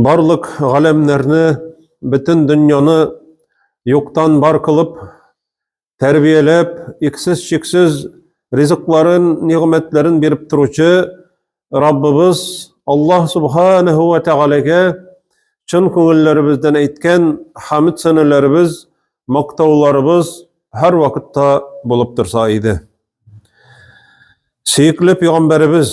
Барлык галәмнәрне, бөтен дөньяны юктан бар кылып, тәрбияләп, иксез-чиксез ризыкларын, нигъмәтләрен биреп торучы Раббыбыз Аллаһ субханаһу ва тәгаләгә чын күңелләребездән әйткән хәмд сәнәләребез, мактауларыбыз һәр вакытта булып торса иде. Сөекле пәйгамбәребез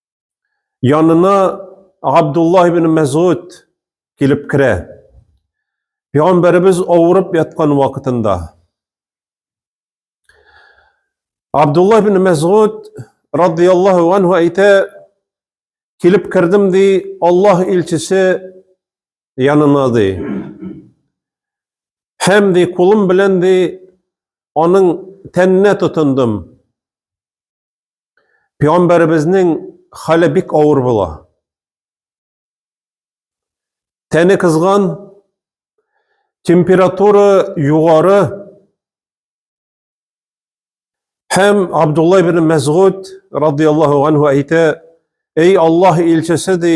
Янына Абдулла ибн Мәзгуд килеп керә. Пәйгамбәребез авырып яткан вакытында Абдулла ибн Мәзгуд радияллаһу анһу әйтә, килеп кердем ди, Аллаһ илчесе янына ди. Һәм ди, кулым белән ди, аның тәненә тотындым. Пәйгамбәребезнең хәле бик авыр була. Тәне кызган, температура югары һәм Абдулла ибн Мәсгуд радияллаһу анһу әйтә, "Эй Аллаһ илчесе" ди,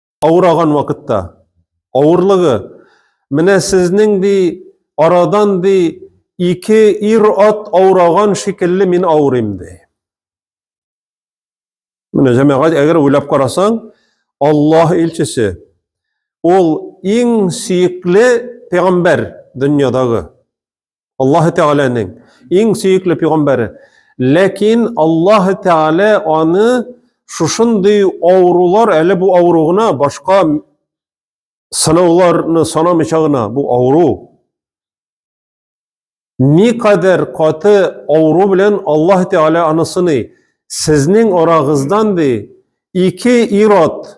Авыраган вакытта авырлыгы менә сезнең ди арадан ди ике ир ат авыраган шикелле мин авырыйм ди. Менә җәмәгать әгәр уйлап карасаң, Аллаһ илчесе ул иң сөекле пәйгамбәр дөньядагы. Аллаһы Тәгаләнең иң сөекле пигамбәре. Ләкин Аллаһы Тәгалә аны шушындый авырулар, әле бу авыру гына, башка сынауларны санамыйча гына, бу авыру. Никадәр каты авыру белән Аллаһы Тәгалә аны сыный. Сезнең арагыздан ди, ике ират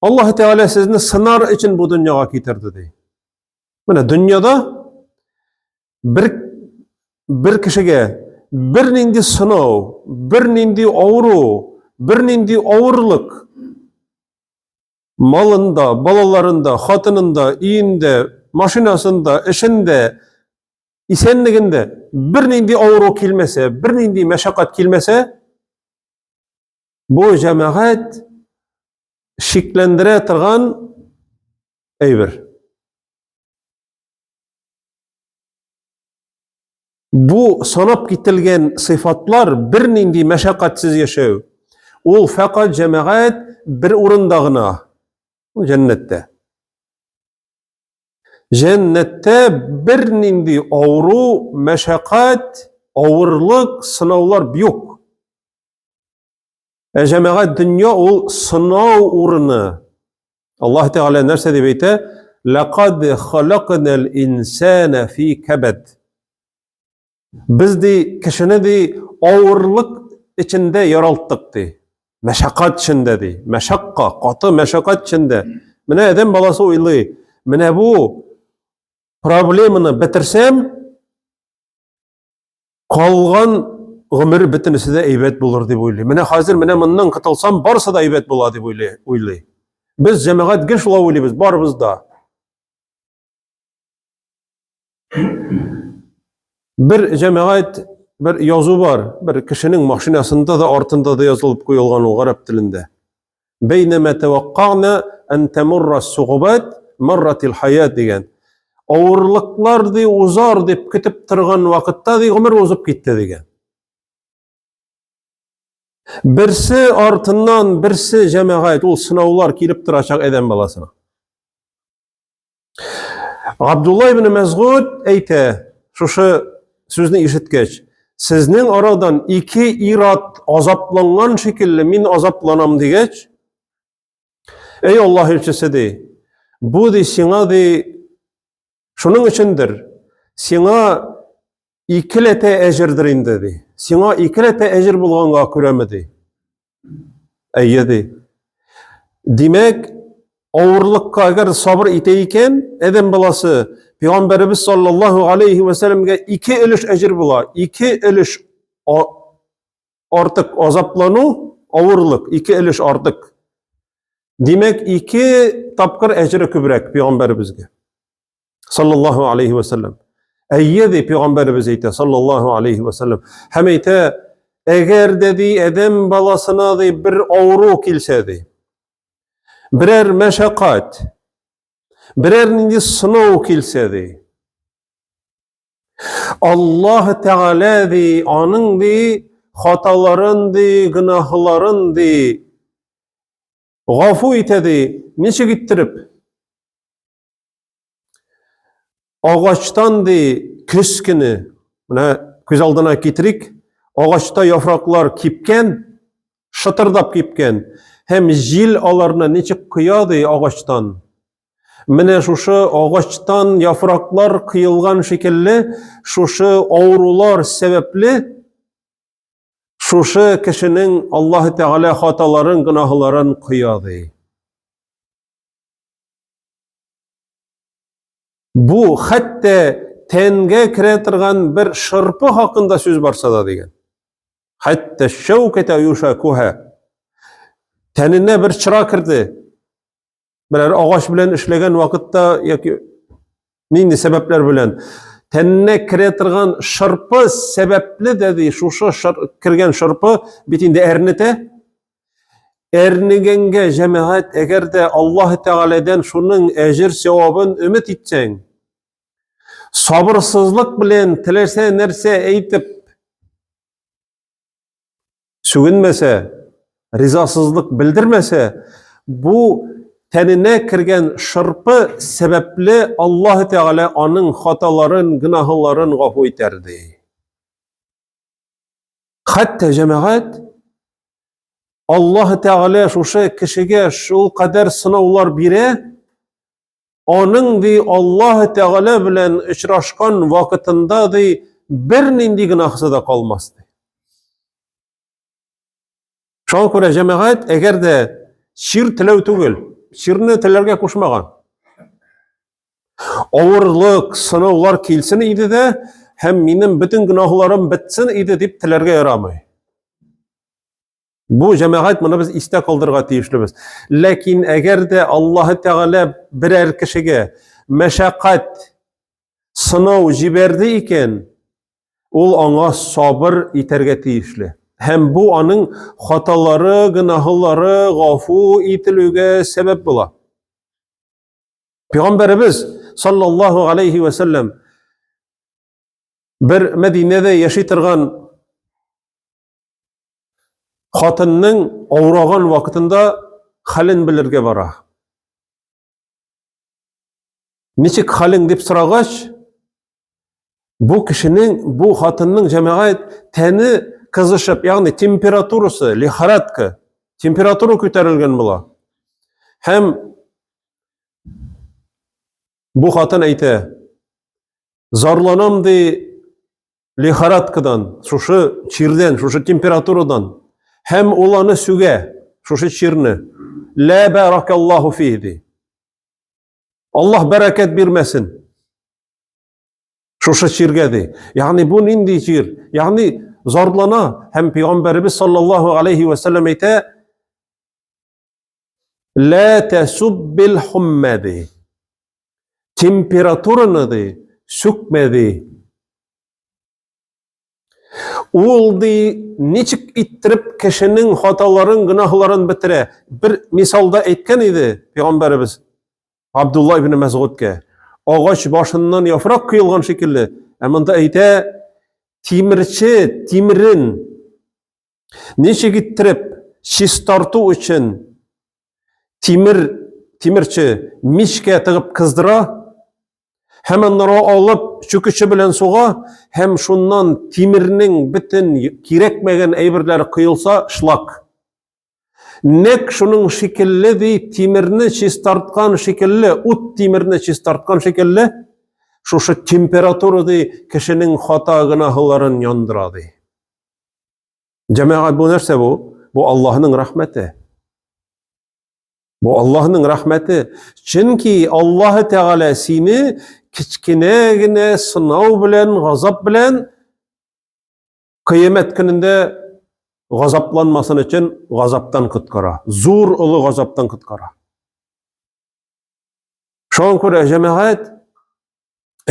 Аллаһ Тәгалә сезне сынар өчен бу дөньяга китерде ди. Менә дөньяда бер бер кешегә бернинди сынау, бернинди авыру, бернинди авырлык малында, балаларында, хатынында, өендә, машинасында, эшендә, исәнлегендә бернинди авыру килмәсә, бернинди мәшәкать килмәсә, Бу җәмәгать шикләндерә торган әйбер. Бу санап кителгән сыйфатлар бернинди мәшәкатьсез яшәү. Ул фәкать җәмәгать бер урында гына, җәннәттә. Җәннәттә бернинди авыру, мәшәкать, авырлык, сынаулар юк. Ә җәмәгать дөнья ул сынау урыны. Аллаһ Тәгалә нәрсә дип әйтә? Ләкад халакнал инсана фи кабад. Без ди кешене ди авырлык эчендә яралттык ди. Мәшәкать эчендә ди. Мәшәкка, каты мәшәкать эчендә. Менә адәм баласы уйлый, менә бу проблеманы бетерсәм, Калган гомер бөтенесе дә әйбәт булыр дип уйлый. Менә хәзер менә моннан котылсам, барысы да әйбәт була дип уйлый. уйлый. Без җәмәгать гел шулай уйлыйбыз, барыбыз да. Бер җәмәгать бер язу бар, бер кешенең машинасында да артында да язылып куелган ул гарәп телендә. Бәйнәмә тәвәккана ан тамурра сугубат марратил хаят дигән. Авырлыклар ди узар дип көтеп торган вакытта ди гомер узып китте дигән. Берсе артыннан берсе җәмәгать ул сынаулар килеп торачак адәм баласына. Абдулла ибн Мәзгуд әйтә, шушы сүзне ишеткәч, сезнең арадан ике ират азапланган шикелле мин азапланам дигәч, Эй Аллаһ илчесе ди, бу ди сиңа ди шуның өчендер, сиңа икеләтә әҗердер инде, ди. Сиңа икеләтә әҗер булганга күрәме, ди. Әйе, ди. Димәк, авырлыкка әгәр сабыр итә икән, әдәм баласы, Пәйгамбәребез саллаллаһу алейхи ва сәлләмгә ике өлеш әҗер була. Ике өлеш артык азаплану, авырлык, ике өлеш артык. Димәк, ике тапкыр әҗере күбрәк Пәйгамбәребезгә. Саллаллаху алейхи ва саллям. Әйе, ди пәйгамбәребез әйтә, саллаллаху алейхи ва саллям. Һәм әйтә, әгәр дә ди адәм баласына ди бер авыру килсә ди, берәр мәшәкать, берәр нинди сынау килсә ди, Аллаһ Тәгалә ди, аның ди хаталарын ди, гөнаһларын ди, гафу итә ди. Ничек иттереп? Агачтан ди көз көне, менә күз алдына китерик, агачта яфраклар кипкән, шытырдап кипкән, һәм җил аларны ничек коя ди агачтан. Менә шушы агачтан яфраклар кыелган шикелле, шушы авырулар сәбәпле шушы кешенең Аллаһ Тәгалә хаталарын, гөнаһларын коя ди. Бу хәтта тәнгә керә торган бер шырпы хакында сүз барса да дигән. Хәтта шәүкәтә юша куһа. Тәненә бер чыра керде. Берәр агач белән эшләгән вакытта яки Нинди сәбәпләр белән? Тәненә керә торган шырпы сәбәпле дә ди, шушы шыр, кергән шырпы бит инде әрнетә. Әрнегәнгә җәмәгать, әгәр дә Аллаһ Тәгаләдән шуның әҗер сәвабын өмет итсәң, сабырсызлык белән теләсә нәрсә әйтеп сүгенмәсә, ризасызлык белдермәсә, бу тәненә кергән шырпы сәбәпле Аллаһ Тәгалә аның хаталарын, гөнаһларын гафу итәр ди. Хәтта җәмәгать Аллаһ Тәгалә шушы кешегә шул кадәр сынаулар бирә, аның ди Аллаһ Тәгалә белән очрашкан вакытында ди бернинди гөнаһысы да калмас ди. Шуңа күрә җәмәгать, әгәр дә чир теләү түгел, чирне теләргә кушмаган. Авырлык, сынаулар килсен иде дә, һәм минем бөтен гөнаһларым бетсен иде дип теләргә ярамый. Бу җәмәгать моны без истә калдырырга тиешлебез. Ләкин әгәр дә Аллаһ Тәгалә берәр кешегә мәшәкать, сынау җибәрде икән, ул аңа сабыр итәргә тиешле. Һәм бу аның хаталары, гөнаһлары гафу ителүгә сәбәп була. Пәйгамбәребез саллаллаһу алейхи ва саллям бер Мәдинәдә яши торган хатынның авыраган вакытында хәлен белергә бара. Ничек хәлең дип сорагач, бу кешенең, бу хатынның җәмәгать тәне кызышып, ягъни температурасы, лихорадка, температура күтәрелгән була. Һәм бу хатын әйтә, зарланам ди, лихорадкадан, шушы чирдән, шушы температурадан. Һәм ул аны сүгә, шушы чирне. Лә бәракаллаху фи ди. Аллаһ бәрәкәт бирмәсен. Шушы чиргә ди. Ягъни бу нинди чир? Ягъни зарлана һәм пәйгамбәребез саллаллаһу алейхи ва саллям әйтә, Лә тәсуббил хуммәди. Температураны ди, сүкмәди. Ул ди, ничек иттереп кешенең хаталарын, гөнаһларын бетерә. Бер мисалда әйткән иде пәйгамбәребез Абдулла ибн Мәсгудкә. Агач башыннан яфрак кыйлган шикелле, ә монда әйтә, тимерче тимрен Ничек иттереп чистарту өчен тимер тимерче мичкә тыгып кыздыра, һәм аннары алып чүкече белән суга, һәм шуннан тимернең бөтен кирәкмәгән әйберләре кыйылса, шлак. Нәк шуның шикелле ди тимерне чистарткан шикелле, ут тимерне чистарткан шикелле, шушы температура ди кешенең хата гынаһларын яндыра ди. Җәмәгать бу нәрсә бу? Бу Аллаһның рәхмәте. Бу Аллаһның рәхмәте. Чөнки Аллаһ Тәгалә сине кечкенә генә сынау белән, газап белән кыямәт көнендә газапланмасын өчен газаптан коткара. Зур олы газаптан коткара. Шуңа күрә җәмәгать,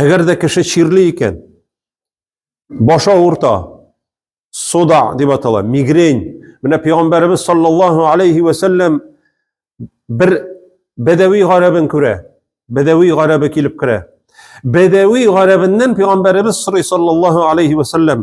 әгәр дә кеше чирли икән, баш авырта, суда дип атала, мигрень. Менә пәйгамбәребез саллаллаһу алейхи ва сәлләм бер бәдәви гарәбен күрә. Бәдәви гарәбе килеп керә. Бәдәви гарәбеннән пәйгамбәребез сорый саллаллаһу алейхи ва сәлләм.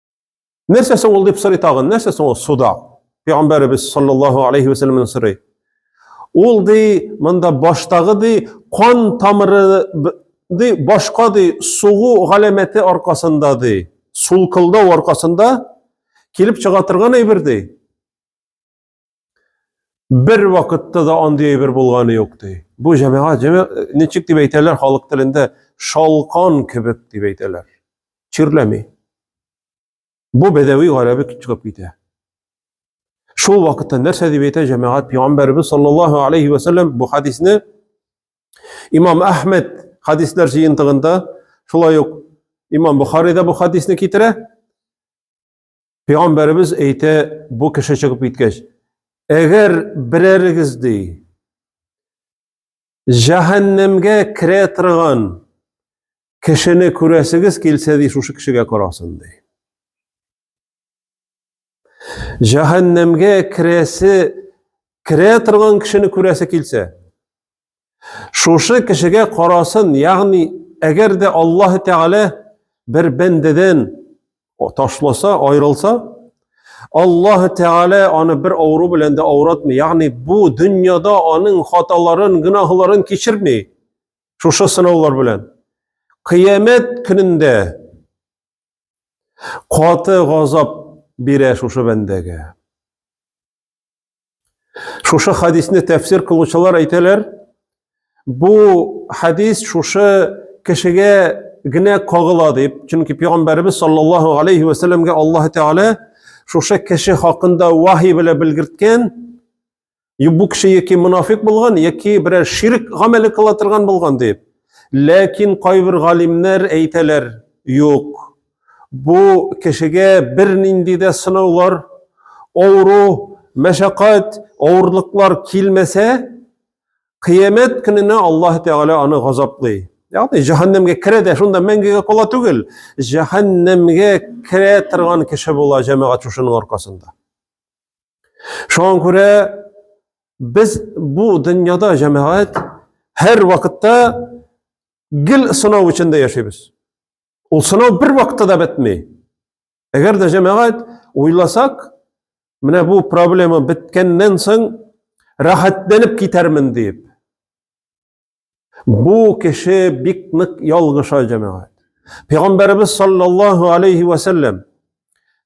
Нәрсә соң ул дип сорый тагын? Нәрсә соң ул суда? Пәйгамбәребез саллаллаһу алейхи ва сәлламнан сорый. Ул ди, монда баштагы ди, кан тамыры ди, башка ди, сугу галәмәте аркасында ди, сулкылдау аркасында килеп чыга торган әйбер ди. Бер вакытта да андый әйбер булганы юк ди. Бу җәмәгать ничек дип әйтәләр халык телендә шалкан кебек дип әйтәләр. Чирләми. Бу бәдәви гарәбе чыгып китә. Шул вакытта нәрсә дип әйтә җәмәгать пәйгамбәрбез саллаллаһу алейхи ва саллям бу хадисне Имам Әхмәд хадислар җыентыгында шулай ук Имам Бухарида бу хадисны китерә. Пәйгамбәребез әйтә, бу кеше чыгып киткәч, әгәр берәрегез ди, җәһәннәмгә керә торган кешене күрәсегез килсә ди, шушы кешегә карасын ди. Җәһәннәмгә керәсе, керә торган кешене күрәсе килсә, Шушы кешегә карасын, ягъни, әгәр дә Аллаһ Тәгалә бер бәндәдән ташласа, аерылса, Аллаһ Тәгалә аны бер авыру белән дә авыратмый. Ягъни, бу дөньяда аның хаталарын, гөнаһларын кичерми. Шушы сынаулар белән. Кыямәт көнендә каты газап бирә шушы бәндәгә. Шушы хадисне тәфсир кылучылар әйтәләр, бу хадис шушы кешегә генә кагыла дип, чөнки пәйгамбәрбез саллаллаһу алейхи ва сәлләмгә Аллаһ Тәгалә шушы кеше хакында вахи белән белгерткән, бу кеше яки мунафик булган, яки берәр ширк гамәле кыла торган булган дип. Ләкин кайбер галимнәр әйтәләр, юк, Бу кешегә бернинди дә сынаулар, авыру, мәшәкать, авырлыклар килмәсә, кыямәт көненә Аллаһ Тәгалә аны газаплый. Ягъни җәһәннәмгә керә дә шунда мәңгегә кала түгел, җәһәннәмгә керә торган кеше була җәмәгать шушының аркасында. Шуңа күрә без бу дөньяда җәмәгать һәр вакытта гел сынау эчендә яшибез. Ул сынау бер вакытта да бетми. Әгәр дә җәмәгать уйласак, менә бу проблема беткәннән соң рәхәтләнеп китәрмен дип. Бу кеше бик нык ялгыша җәмәгать. Пәйгамбәрбез саллаллаһу алейхи ва саллям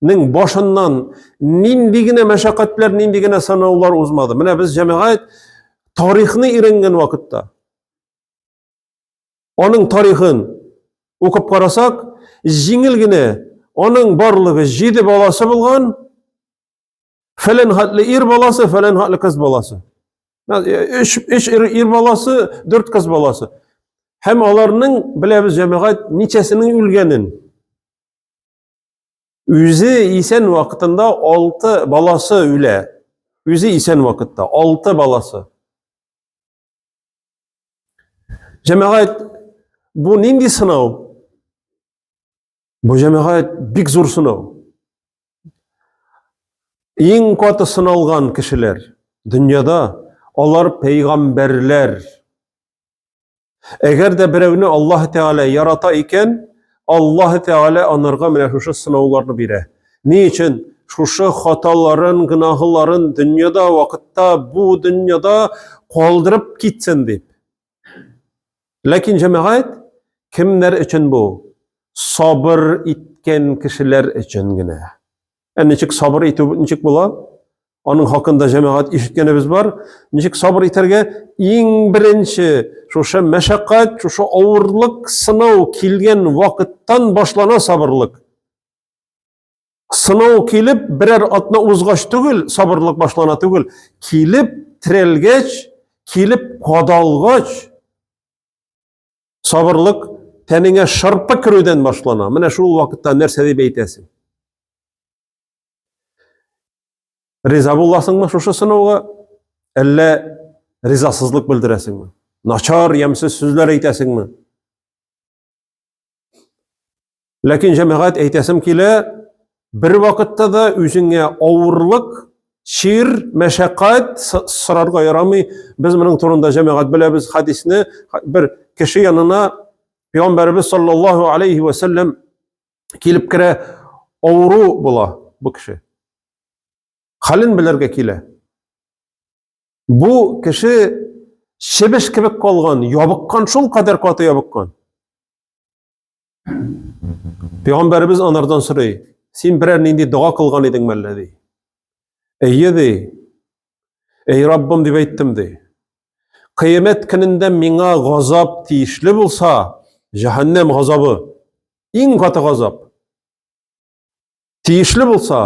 нең башыннан нинди генә мәшәкатьләр, нинди генә сынаулар узмады. Менә без җәмәгать тарихны иренгән вакытта Аның тарихын укып карасак, җиңел генә аның барлыгы җиде баласы булган, фәлән хатлы ир баласы, фәлән хатлы кыз баласы. Өч, өч ир, ир баласы, дүрт кыз баласы. Һәм аларның беләбез җәмәгать ничәсенең үлгәнен. Үзе исән вакытында алты баласы үлә. Үзе исән вакытта алты баласы. Җәмәгать, бу нинди сынау? Бу җәмәгать бик зур сынау. Иң каты сыналган кешеләр дөньяда алар пәйгамбәрләр. Әгәр дә берәүне Аллаһ Тәгалә ярата икән, Аллаһы Тәгалә анарга менә шушы сынауларны бирә. Ни өчен? Шушы хаталарын, гөнаһларын дөньяда, вакытта, бу дөньяда калдырып китсен дип. Ләкин җәмәгать кемнәр өчен бу? Сабыр иткән кешеләр өчен генә. Ә ничек сабыр итү ничек була? Аның хакында җәмәгать ишеткәнебез бар. Ничек сабыр итәргә? Иң беренче шушы мәшәкать, шушы авырлык, сынау килгән вакыттан башлана сабырлык. Сынау килеп, берәр атна узгач түгел, сабырлык башлана түгел. Килеп, терәлгәч, килеп, кадалгач, Сабырлык тәнеңә шырпы керүдән башлана. Менә шул вакытта нәрсә дип әйтәсең? Риза буласыңмы шушы сынауга? Әллә ризасызлык белдерәсеңме? Начар, ямьсез сүзләр әйтәсеңме? Ләкин җәмәгать әйтәсем килә, бер вакытта да үзеңә авырлык, чир, мәшәкать сорарга ярамый. Без моның турында җәмәгать беләбез хадисне. Бер кеше янына Пәйгамбәрбез саллаллаһу алейхи ва саллям килеп керә, авыру була бу кеше. Хален белергә килә. Бу кеше чебеш кебек калган, ябыккан, шул кадәр каты ябыккан. Пәйгамбәребез анардан сорый, син берәр нинди дога кылган идең мәллә ди. Әйе ди. Әй Раббым дип әйттем ди. Кыямәт көнендә миңа газап тиешле булса, җәһәннәм газабы иң каты газап. Тиешле булса,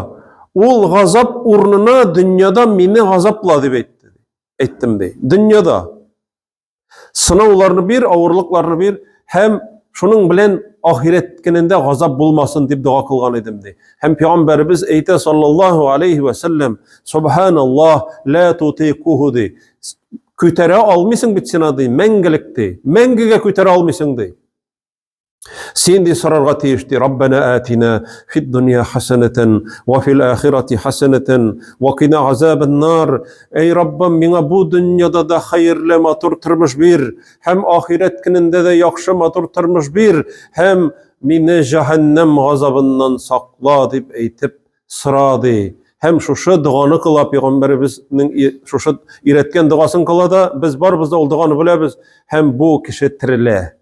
ул газап урынына дөньяда мине газапла дип әйтте. Әйттем ди. Дөньяда сынауларны бир, авырлыкларны бир һәм шуның белән ахирет көнендә газап булмасын дип дога кылган идем ди. Һәм пәйгамбәребез әйтә саллаллаһу алейхи ва саллям, субханаллаһ, ла тутикуху ди. Күтәрә алмыйсың бит син аны, мәңгелек ди. Мәңгегә күтәрә алмыйсың ди. Син ди сорарга тиеш ди, Раббана атина фид дөнья хасанатан ва фил ахирати хасанатан ва кина азабан нар. Эй Раббым, миңа бу дөньяда да хәерле матур тормыш бир, һәм ахирәт көнендә дә яхшы матур тормыш бир, һәм мине җәһәннәм газабыннан сакла дип әйтеп сора ди. Һәм шушы доганы кыла пәйгамбәребезнең шушы өйрәткән догасын кыла да, без барыбыз да ул доганы беләбез, һәм бу кеше терелә.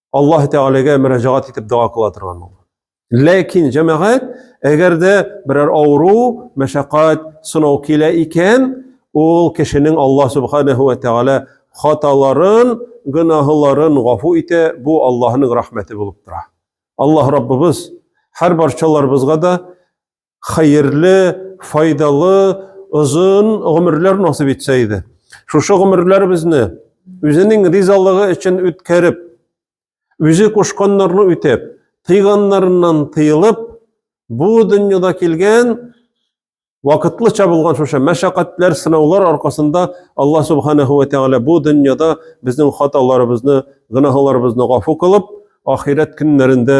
Аллаһ Тәгаләгә мөрәҗәгать итеп дога кыла торган ул. Ләкин җәмәгать, әгәр дә берәр авыру, мәшәкать, сынау килә икән, ул кешенең Аллаһ Субханаһу ва Тәгалә хаталарын, гөнаһларын гафу итә, бу Аллаһның рәхмәте булып тора. Аллаһ Раббыбыз һәр барчаларыбызга да хәерле, файдалы, озын гомерләр насыйп итсә иде. Шушы гомерләребезне үзенең ризалыгы өчен үткәреп, үзе кушканнарны үтәп, тыйганнарыннан тыйылып, бу дөньяда килгән вакытлыча булган шушы мәшәкатьләр, сынаулар аркасында Алла субханаһу ва тәгалә бу дөньяда безнең хаталарыбызны, гөнаһларыбызны гафу кылып, ахирәт көннәрендә